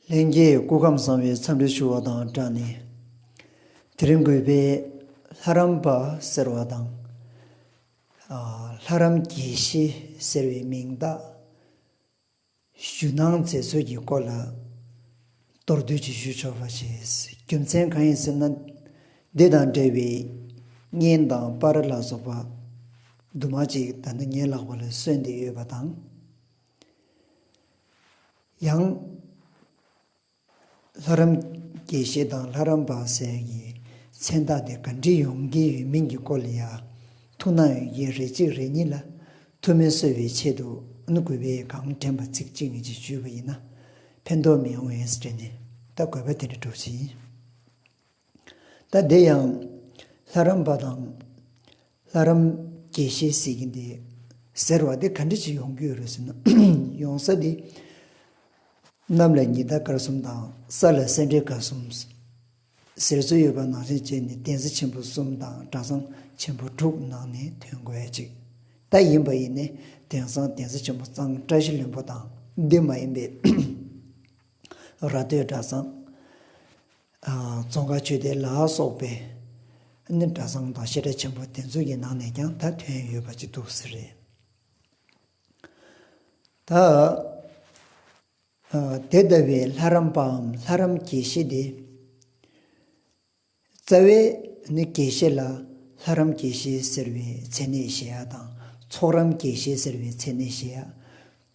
ལྷན་རྒྱས་སྐུ་ཁམས་བཟང་བའི་འཚམས་འདྲི་ཞུ་བ་དང་སྦྲགས་ནས། དེ་རིང་གུས་པས་ལྷ་རམས་པ་ཟེར་བ་དང། ལྷ་རམས་དགེ་བཤེས་ཟེར་བའི་མིང་བཏགས། ཞུ་སྣང་མཛད་ཚུལ་གྱི་སྐོར་ལ་མདོར་བསྡུས་ཀྱིས་ཞུ་ཆོག་པ་ཞིག་རྒྱུ་མཚན་གང་ཡིན་ཟེར་ན། འདི་དང་འབྲེལ་བའི་བརྙན་དང་པར་ལ་སོགས་པ་དུ་མ་ཅིག་ད་ནི་ངའི་ལག་པ་ལ་སོན་བསྡད་ཡོད་པ་དང། ཡང། ལྷ་རམས་དགེ་བཤེས་དང་ལྷ་རམས་པ་ཟས་ཀྱི་མཚན་རྟགས་དེ་ག་འདྲི་ཡོང་གི་ཡོད་མིན་གྱི་སྐོར་ལ་ཡང་ཐུགས་སྣང་ཡོད་ཀྱི་རེད་གཅིག་རེ་གཉིས་ལ་ཐུགས་སྨོན་གསོས་པའི་ཆེད་དུ་ཨུན་གུ་བའི་གང་དྲན་པ་ཚིག་གཅིག་གཉིས་ཀྱིས་བརྗོད་པ་ཡིན་ན་ཕན་ཐོགས་མི་ཡོང་བས་དྲན་ནས་ད་དགོས་པ་དེ་འདྲ་སྒྲོག་བཞིན། ད་དེ་ཡང་ལྷ་རམས་པ་དང། ལྷ་རམས་དགེ་བཤེས་ཟེར་གྱིན་དེ་ཟེར་བ་དེ་ག་འདྲི་ཞིག་ཡོང་གི་ཡོད་རེད་ཟེར་ན། ཡོང་ས་དེ། གནམ་ལ་ཉི་ཟླ་སྐར་གསུམ་དང་ས་ལ་སེ་འབྲས་སྐར་གསུམ། ཟེར་སྲོལ་ཡོད་པ་ནང་བཞིན་བྱས་ནས་བསྟན་འཛིན་ཆེན་པོ་གསུམ་དང་གྲྭ་ཚང་ཆེན་པོ་དྲུག་ནང་ནས་དོན་དགོས་ཅིག་ད་ཡིན་པ་ཡིན་ནས་དེང་སང་བསྟན་འཛིན་ཆེན་པོ་གཙང་བཀྲ་ཤིས་བློན་པོ་དང་འདི་མ་ཡིན་པའི་ར་སྟོད་གྲྭ་ཚང། ཙོང་ཁ་ཆོས་སྡེ་ལ་སོགས་པའི་ནི་གྲྭ་ཚང་དང་བཤད་གྲྭ་ཆེན་པོ་དེ་ཚོ་ཡི་ནང་ནས་ཀྱང་ད་ཐོན་ཡོད་པ་ཅིག་འདུག་ཟེར། ད་དེ་ལྟ་བུའི་ལྷ་རམས་པའམ་ལྷ་རམས་དགེ་བཤེས་དེ། རྩ་བའི་ནི་དགེ་བཤེས་ལ་ལྷ་རམས་དགེ་བཤེས་ཟེར་བའི་མཚན་གནས་བཞེས་ཡ་དང་ཚོགས་རམས་དགེ་བཤེས་ཟེར་བའི་མཚན་གནས་བཞེས་ཡ།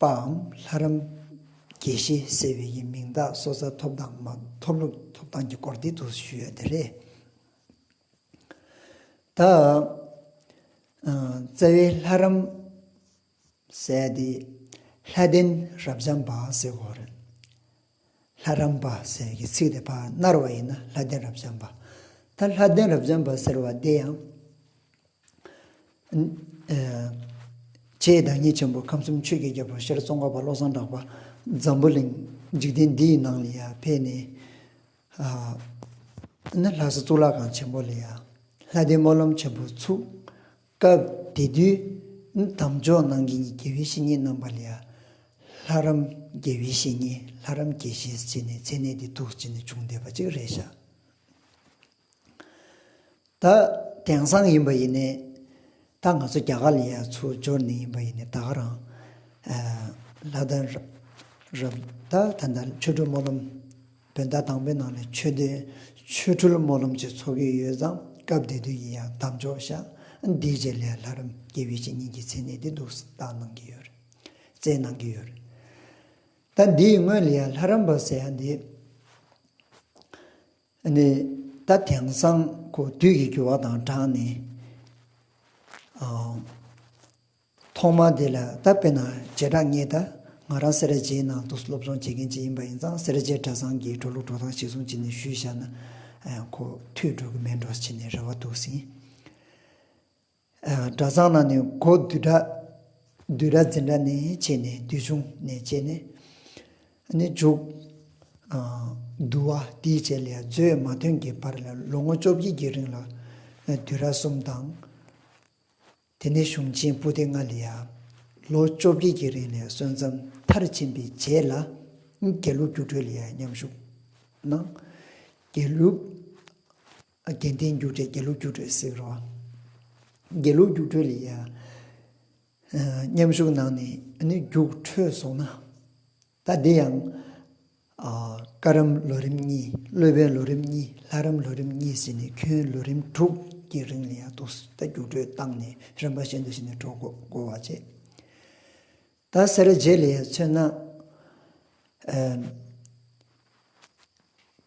པའམ་ལྷ་རམས། དགེ་བཤེས་ཟེར་བའི་ཡི་མིང་དག་སོ་སར་ཐོབ་དང་མ་ཐོབ་ལུགས་ཐོབ་ཐང་གི་སྐོར་འདི་དུ་ཞུས་ཡོད་དེ་རེད། ད། རྩ་བའི་ལྷ་རམས། ཟེར་དེ། ལྷ་ལྡན་རབ་འབྱམས་པ་ཟེར་བ་རེད། ལྷ་རམས་པ་ཟེར་གྱི་ཚིག་དེ་བར་སྣར་བ་ཡིན་ན་ལྷ་ལྡན་རབ་འབྱམས་པ། ད་ལྷ་ལྡན་རབ་འབྱམས་པ་ཟེར་བ་འདི་ཡང། རྗེའི་བདག་ཉིད་ཆེན་པོ་ཁམས་གསུམ་ཆོས་ཀྱི་རྒྱལ་པོ་ཤར་ཙོང་ཁ་པ་བློ་བཟང་གྲགས་པ་འཛམ་བུ་གླིང་འཇིག་རྟེན་འདི་ཡི་ནང་ལ་ཡང་ཕེབས་ནས། ལྷ་ས་གཙུག་ལག་ཁང་ཆེན་པོ་ལ་ཡང་ལྷ་ལྡན་སྨོན་ལམ་ཆེན་པོ་ཚུགས། སྐབས་དེ་དུས་དམ་འཇོག་གནང་མཁན་གྱི་དགེ་བའི་བཤེས་གཉེན་རྣམ་པ་ལས། ལྷ་རམས་དགེ་བའི་བཤེས་གཉེན་ལྷ་རམས་དགེ་བཤེས་ཅེས་ནས་མཚན་གནས་འདི་ཐུགས་ཅི་ནས་བྱུང་བསྡད་པ་ཅིག་རེད་བཞག་ད། དེང་སང་ཡིན་པ་ཡིན་ནས་ད་ང་ཚོ་རྒྱ་གར་ལ་ཡ་ཚུར་འབྱོར་ནས་ཡིན་པ་ཡིན་ནས་ད་ག་རང་ལྷ་དང་རབས་ད་ད་ཆོས་སྒྲོན་སྨོན་ལམ། བོད་ཟླ་དང་པོའི་ནང་ནས་ཆོས་སྡེ། ཆོས་འཕྲུལ་སྨོན་ལམ་བཅས་འཚོགས་ཀྱི་ཡོད་ཙང་སྐབས་དེ་དུས་ཡིན་ཡང་གདམས་ཆོག་ཞག་འདིའི་རྗེས་ལས་ལྷ་རམས་དགེ་བའི་བཤེས་གཉེན་གྱི་མཚན་གནས་དེ་འདུག་སྟངས་གནང་གི་ཡོད། བསྩལ་གནང་གི་ཡོད། ད་འདིའི་སྔོན་ལ་ཡང་ལྷ་རམས་པ་ཟེར་ཡ་འདི་ནི་ད་དེང་སང་ཁོ་དུས་ཀྱི་འགྱུར་བ་དང་སྦྲགས་ནས། ཐོག་མར་དེ་ལ་བལྟ་དཔེར་ན་བྱེ་བྲག་ངས་ད་ང་རང་སེར་རྗེའི་ནང་དུ་སློབ་སྦྱོང་བྱེད་མཁན་ཅིག་ཡིན་པ་ཡིན་ཙང་སེར་རྗེ་གྲྭ་ཚང་གི་འགྲོ་ལུགས་འགྲོ་སྟངས་ཤིག་བཟུང་བྱས་ནས་ཞུས་བཞག་ན་ཁོ་ཐུགས་སྤྲོ་གི་མེད་འགྲོ་བྱས་ནས་རེ་བ་འདུག་ཟིན། གྲྭ་ཚང་ནང་ནས་སྒོ་བསྡུས་གྲྭ་བསྡུས་གྲྭ་འཛིན་གྲྭ་ནས་བྱས་ནས་བསྡུས་ཆུང་ནས་བྱས་ནས་ནི་འཇུག། བསྡུ་བ་དེའི་རྗེས་ལས་མཛོད་མ་ཐོན་གྱི་བར་ལ་ལོ་ངོ་བཅོ་བརྒྱད་ཀྱི་རིང་ལ་བསྡུས་གྲྭ་གསུམ་དང། དེ་ནས་གཞུང་ཆེན་པུ་ཏི་ལྔ་ལས། ལོ་བཅོ་བརྒྱད་ཀྱི་རིང་ལས་སྲོལ་མཚམས་མཐར་ཕྱིན་པའི་རྗེས་ལ། རྒྱལ་ལུགས་སྒྱུ་འཕྲུལ་ལས་མཉམ་ཞུགས་གནང། རྒྱལ་ལུགས། རྒྱལ་བསྟན་སྒྱུ་འཕྲུལ་རྒྱལ་ལུགས་སྒྱུ་འཕྲུལ་ཟེར་རོ། རྒྱལ་ལུགས་སྒྱུ་འཕྲུལ་ལས། མཉམ་ཞུགས་གནང་ནས་རྒྱུགས་འཕྲོད་སོང་ན། ད་འདི་ཡང། བཀའ་རམས་ལོ་རིམ་གཉིས་གློད་པའི་ལོ་རིམ་གཉིས་ལྷ་རམས་ལོ་རིམ་གཉིས་ཟེར་ནས་ཁྱོན་ལོ་རིམ་དྲུག་གི་རིང་ལ་ཡང་སྡུག་ས་ད་རྒྱུགས་སྤྲོད་བཏང་ནས་རིམ་པ་གཞན་དུ་ཕྱིན་ནས་གྲོགས་བསྒོ་བ་བྱས། ད་སེར་བྱེས་ལས་མཚོན་ན།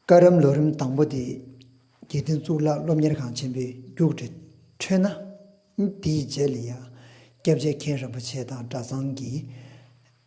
བཀའ་རམས་ལོ་རིམ་དང་པོ་དེ་དགེ་འདུན་གཙུག་ལག་སློབ་གཉེར་ཁང་ཆེན་པོའི་རྒྱུགས་འབྲས་ཁྲོད་ན། དེའི་རྗེས་ལ་ཡང་སྐྱབས་རྗེ་མཁན་རིན་པོ་ཆེ་དང་གྲྭ་ཚང་གི།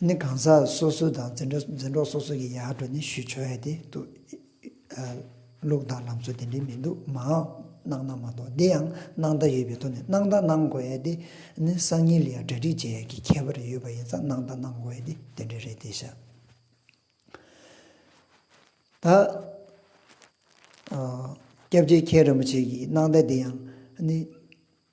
ནི་གང་ཟག་སོ་སོ་དང་འཛིན་གྲོགས་སོ་སོ་ཀྱི་ཡར་འགྲོ་ནི་ཞུ་ཆོག་ཡ་དེ་འདུགལུགས་དང་ལམ་སྲོལ་དེ་འདྲའི་མི་འདུག་མའོ་གནང་ན་མ་གཏོགས་འདི་ཡང་གནང་བརྡ་ཡོད་པའི་ཐོག་ནས་གནང་བརྡ་གནང་དགོས་ཡ་དེ་ནི་སང་ཉིན་ལ་ཡང་གྲ་སྒྲིག་བྱེད་ཡ་གི་ཁྱད་པར་ཡོད་པ་ཡིན་ཙང་གནང་བརྡ་གནང་དགོས་ཡ་དེ་དེ་འདྲའི་རེད་དེ་ཤ་ད། སྐྱབས་རྗེ་མཁན་རིན་པོ་ཆེ་གིས་གནང་བརྡ་དེ་ཡང་ནི།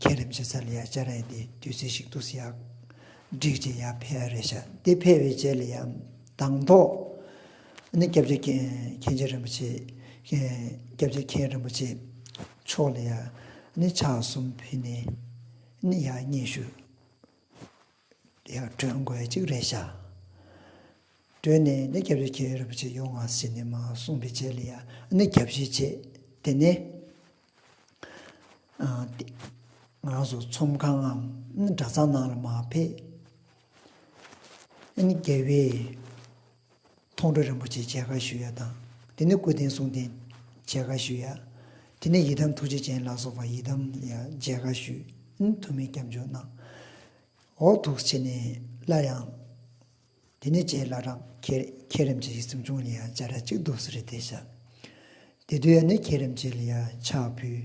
ཁྱེད་རིམ་བྱེད་ས་ལ་ཡང་བཅར་ཡས་དེ་དུས་ཚེ་ཞིག་ཏུ་ཡག། འགྲིག་ཅེས་ཡར་ཕེབས་རེ་བྱ། དེ་ཕེབས་པའི་རྗེས་ལ་ཡང་དང་ཐོག་ནས་སྐྱབས་རྗེ་མཁན་ཆེན་རིན་པོ་ཆེ། སྐྱབས་རྗེ་མཁན་རིན་པོ་ཆེ་མཆོག་ལ་ཡང་ཕྱག་གསུམ་ཕུལ་ནས་ཡང་སྙན་ཞུ། དེ་ཡང་སྤྲོས་མགོ་བའི་གཅིག་རེ་བྱ། སྤྲོས་ནས་ནི་སྐྱབས་བྱེད་ཀྱི་རིན་པོ་ཆེ་ཡོངས་སྔགས་ཟིན་ནས་མ་གསུངས་པའི་རྗེས་ལ་ཡང་ནི་སྐྱབས་བྱེད་བྱེད། དེ་ནས་ང་སོགས་ཚོམས་ཁང་ངམ་གྲྭ་ཚང་ནང་ལ་མ་ཕེབས། ནི་རྒྱལ་བའི་མཐོང་གྲོལ་རིན་པོ་ཆེ་ཆེ་ཧ་ཞུ་ཡ་དང། དེ་ནས་སྐུ་རྟེན་གསུང་རྟེན་ཆེ་ཧ་ཞུ་ཡ། དེ་ནས་ཡི་དམ་ཐུགས་རྗེ་ཅན་ལ་སོགས་པ་ཡི་དམ་ཡ་མཇལ་ཧ་ཞུ། ཐུ་མི་སྐྱབས་འཇུག་གནང། འོག་ཐུགས་ཆེ་ནས་སླར་ཡང། དེ་ནས་ཅེས་བླ་རང་ཁྱེད་རིམ་བྱེད་ཀྱི་སེམས་བྱུང་ལ་ཡ་བཅའ་ར་གཅིག་འདུག་སེ་རེ་ཏེ་བྱ། དེ་དུས་ཡ་ནས་ཁྱེད་རིམ་བྱེད་ལ་ཡ་ཕྱག་ཕུལ།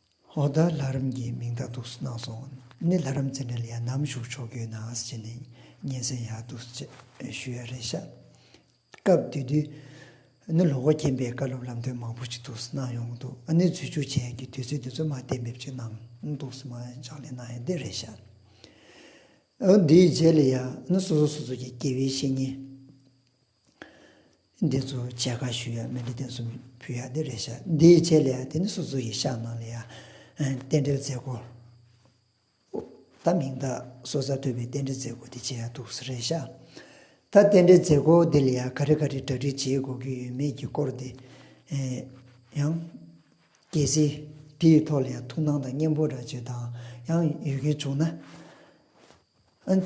ཧོར་ཟླ་ལྷ་རམས་ཀྱི་མིང་བརྡ་གཏུགས་སུ་གནང་སོང། ནི་ལྷ་རམས་རྩེད་འགྲན་ལ་ཡང་ནམ་ཞུགས་ཆོག་རྒྱུའི་ནང་བཟི་བྱས་ནས་སྙན་སེང་ཡག་འདུག་ཅེས་ཞུ་ཡ་རེད་ཤག། སྐབས་དེ་དུས། ནི་ལོ་འགོ་རྐྱེན་པས་བཀའ་སློབ་ལམ་སྟོན་མང་པོ་ཞིག་འདུག་སུ་གནང་ཡོང་འདུག་ནི་འཛུལ་བཅུག་བྱས་ཡན་གྱི་དུས་ཚོད་འདི་ཚོད་མ་གཏན་འབེབས་ཅིག་གནང་འདུག་སུ་མ་ཕྱག་ལས་གནང་ཡ་འདི་རེད་ཤག། འདིའི་རྗེས་ལ་ཡང་ནི་སོ་སོ་སོ་སོ་ཀྱི་དགེ་བའི་བཤེས་གཉེན། འདི་ཚོ་བྱས་ཁ་ཞུ་ཡག་མེད་འདི་བསྟན་སྲུང་ཕུལ་ཡག་འདི་རེད་ཤག་འདིའི་བྱས་ལས་ཡག་དེ་ནི་སོ་སོ་ཡི་ཤག་ནང་ལས་ཡག་རྟེན་འབྲེལ་མཛད་སྒོ་ད་མིང་རྟགས་སོ་གསར་ཐོད་པའི་རྟེན་འབྲེལ་མཛད་སྒོ་འདི་བྱས་ཡག་འདུག་ཟེར་རེད་ཤག་ད་རྟེན་འབྲེལ་མཛད་སྒོ་འདི་ལས་ཡག་ག་རེ་ག་རེ་གྲ་སྒྲིག་བྱེད་དགོས་ཀྱི་ཡོད་མེད་ཀྱི་སྐོར་འདི་ཡང། གལ་སྲིད་འདི་ཡི་ཐོག་ལ་ཡང་ཐུགས་སྣང་དང་སྙན་པོ་འདྲ་བྱེད་དང་ཡང་ཡོད་ཀྱི་བྱུང་ན།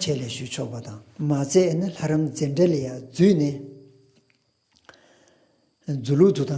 ཆད་ལས་ཞུ་ཆོག་པ་དང། མ་བཙལ་ན་ལྷ་རམས་རྩེད་འགྲེལ་ལས་ཡང་བརྫུས་ནས་རྫུ་ལུགས་དུ་དང།